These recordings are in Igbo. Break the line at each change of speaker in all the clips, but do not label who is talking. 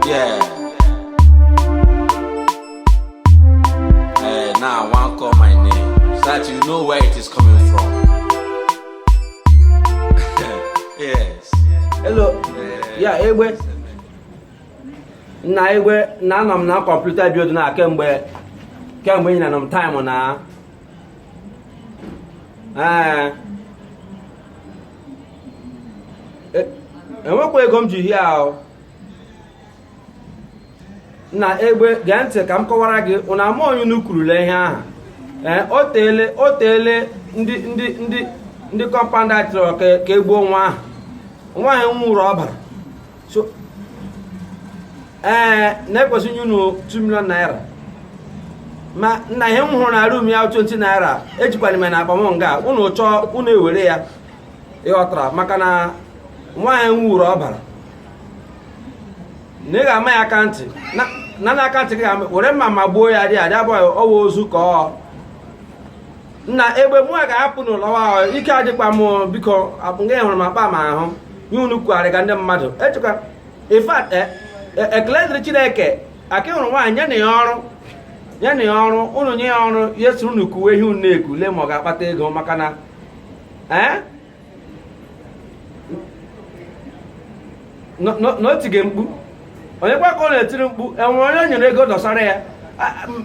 Yeah. Hey, now I want call my name so that you know where it is coming from. yes.
Hello. Yeah egbe. Nna egbe na anọ m na computer building kemgbe kemgbe ị na nọ m time na. Ee. e, enwekwa ego m ji hie ahụ nna egbe gee ntị ka m kọwara gị unu ama onye unu kurule ihe ahụ ee o teele o teele ndị ndị ndị ndị compound a chọrọ ka e gbuo nwa ahụ nwa ahụ nwụrụ ọbara so ee eh, na e kwesị inye unu 2 million naira ma nna ihe m hụrụ na room ya 20 naira ejikwara m na akpa m nga unu chọọ unu ewere ya ị ghọtara maka na nwa ahụ nwụrụ ọbara na ị ga-ama ya aka ntị na na aka ntị gị ga were mma ma gbuo ya dị adị abụghị ọwa ozu ka ọ nna egbe mụ ga-ahapụ unu lawa ike adịkwa m biko nga hụrụ m akpa m ahụ ihe unu kugharịga ndị mmadụ echekwa in fact e, e, ekele dịrị chineke a ka hụrụ nwa ahụ nye na ya ọrụ nye na ya ọrụ unu nye ya ọrụ ya soro unu kuwe ihe unu na-eku lee ma ọ ga-akpata ego maka na ee eh? na o tige mkpu onye kwa ka ọ na-etiri mkpu e nwere onye o nyere ego dọsara ya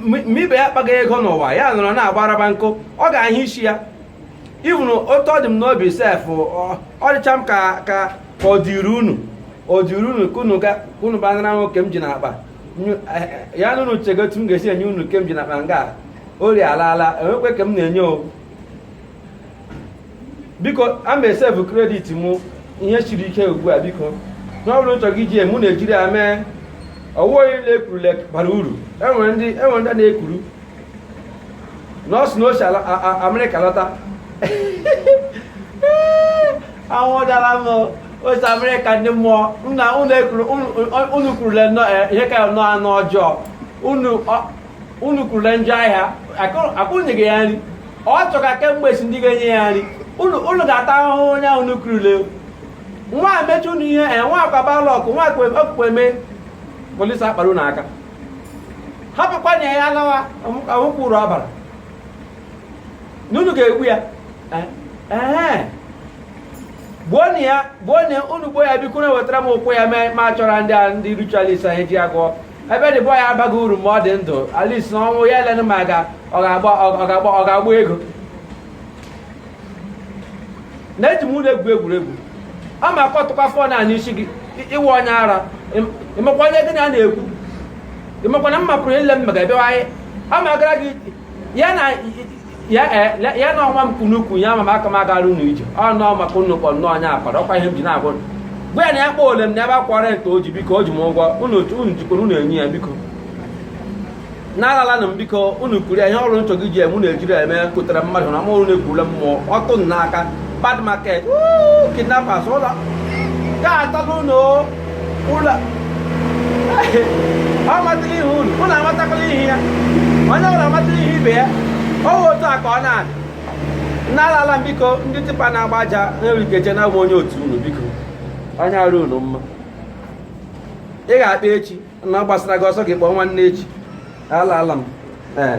ma ibe ya akpaghị ego n'ụwa ya nọrọ na-agbaraba nkụ ọ ga-ahụ isi ya ị vụrụ otu ọ dị m n'obi sef ọ dịcha m ka ka ọ dịrị unu ọ dịrị unu ka unu ga unu banara nwa ke m ji n'akpa eh, ya na unu chega otu m ga-esi enye unu ke m ji n'akpa nga ori alaala enwekwe ke m na-enye o biko ka m save credit mụ ihe siri ike ugbu a biko na ọ bụrụ nchọ gị ji mụ na-ejiri ya mee ọ wụghị niile e kurule bara uru enwere ndị enwere ndị na-ekuru na ọ sị na o si ala a- a- amerịka lọta anwụdara m o si amerịka ndị mmụọ nna unu ekuru unu- unu kurule nnọọ, eh, ihe ka nọ anụ ọjọọ unu ọ- unu kurule njọ ahịa akụnyeghị ya nri ọ chọga kemgbe si ndị ga-enye ya nri unu ga-ata ahụhụ onye ahụ unu kurule nwa amechi unu ihe e nwa akwa balọkụ nwa okpukpe mee polisi akpara unu aka hapụkwa na ya lawa anwụkwuru abara na unu ga-egbu ya eh, eh. gbuo na ya gbuo na unu gbuo ya biko nna wetara m ụkwụ ya ma chọrọ ndị a ndị ritualist anyị ji ụgwọ ebe dị bọọ ya abaghị uru ma ọ dị ndụ at least na ọnwụ ya elenụ ma ga ọ ga-agba ego na eji m unu egwu egwuregwu ọ ma akọtụkwa fọ na n'isi gị ị wụ onye ara ị makwa onye gị na na-ekwu ị makwa na mma pụrụ ile m mega bịawa anyị ọ ma gara gị ya na ọnwa m kunukwu ya ma aka m agara unu ije ọ nọọ maka unu kpọnụ onye akwara ọkwa ihe m ji na-agwa unu. gwa ya na ya kpọọ ole m na ebe akwa rent o ji biko o ji m ụgwọ unu jikwara unu enye ya biko na alaalanụ m biko unu kwuru ya ihe ọrụ nchọ gị ji eme unu ejiri ya eme kụtara mmadụ na mụrụ na-ekwurula mmụọ ọtụ m n'aka bad market woo, kidnappers ụlọ ga-atalụ unu o. ụlọ amatala ihe unu unu amatakwala ihe ya onye ọbụla amatala ihe ibe ya ọ wụ otu a ka ọ na-adị na alaala m biko ndị tipa na-agba aja na-erikeje na awụ m onye otu unu biko onye arụ unu mma ị ga-akpa echi na ọ gbasara gị ọsọ gị kpọọ nwanne echi alaala m ee